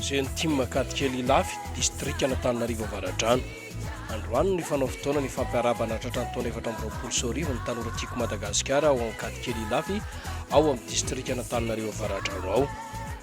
Jeune Tim Ankadikely Ilafy, distrikan'Antananarivo Avaradrano. Androany no nifanao fotoana ny fampiarabana tratran'ny taona efatra amby roapolo sy roa arivo ny tanora Tiako Madagasikara ao Ankadikely Ilafy ao amin'ny distrikan'Antananarivo Avaradrano ao.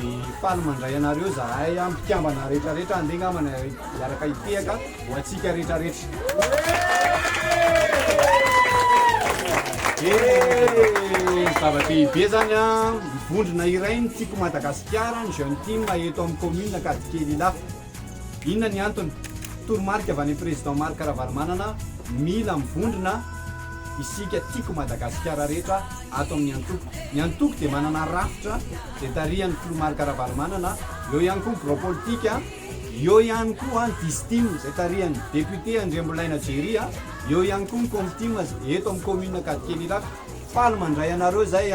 Dia faly mandray anareo zahay an, mpikambana retraretra andeha ngambana hiaraka hitehaka ho antsika retraretra. Dia zava-dehibe zany an, ny vondrona iray no tiako Madagasikara, ny Jeune Tim eto amin'ny commune Ankadikely Ilafy. Inona ny antony? Toromarika avy any am Président Marc Ravalomanana, mila mivondrona isika tiko Madagasikara rehetra ato amin'ny antoko. Ny antoko dia manana rafitra izay tarihan'ny Filoha Marc Ravalomanana, eo ihany koa ny birao politika, eo ihany koa ny Distim izay tarihan'ny Député Andriambolaina Jerry, eo ihany koa ny Comtim eto amin'ny Commune Ankadikely Iraka. Faly mandray anareo izay.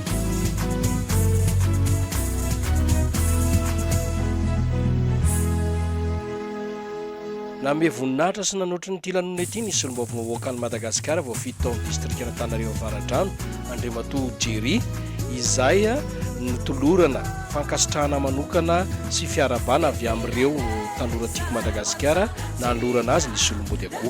Nanome voninahitra sy nanotry ny ity lanonana ity ny solombavao vaovaokan'i Madagasikara voafidy tao amin'ny distrikan'Antananarivo Avaradrano, Andriamatoa Jerry, izay notolorana fankasitrahana manokana sy fiarahabana avy amin'ireo tanora Tiako Madagasikara nanolorana azy ny solombody akoho.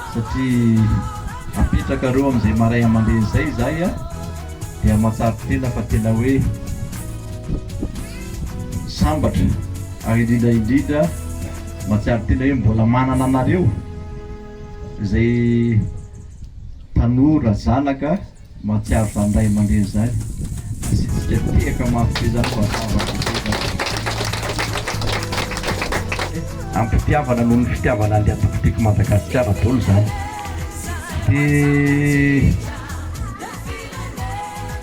satria apetrakareo amin'izay maray aman-dreny izay izahay a, dia mahatsiaro tena fa tena hoe sambatra ary indrindra indrindra mahatsiaro tena hoe mbola manana anareo izay tanora zanaka. Mahatsiaro fa ndray mandeha izany asitsika tehaka mafy be izany fa zavatra be izany. Am-pitiavana noho ny fitiavana an'i Atokotiky Madagasikara dolo izany. Dia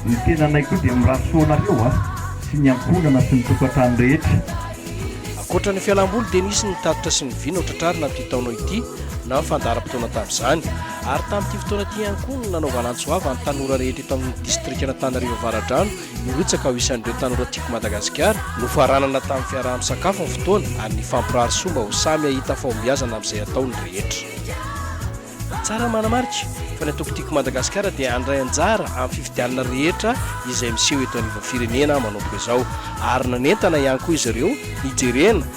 ny tenanay koa dia mirary soa anareo a, sy ny ankohonana sy ny tokantrano rehetra. Ankoatra ny fialam-boly dia nisy ny tatitra sy ny vina ho tratrarina amin'ity taona ity na fandaharam-potoana tamin'izany. Ary tamin'ity fotoana ity ihany koa no nanaovana antso avo an'ny tanora rehetra eto amin'ny distrikan'Antananarivo Avaradrano hirotsaka ho isan'ireo Tanora Tiako Madagasikara. Nofaranana tamin'ny fiaraha-misakafo ny fotoana ary nifampirary soa mba ho samy hahita fahombiazana amin'izay atao ny rehetra. Tsara ny manamarika fa ny Antoko Tiako Madagasikara dia handray anjara amin'ny fifidianana rehetra izay miseho eto anivon'ny firenena manomboka izao ary nanentana ihany koa izy ireo hijerena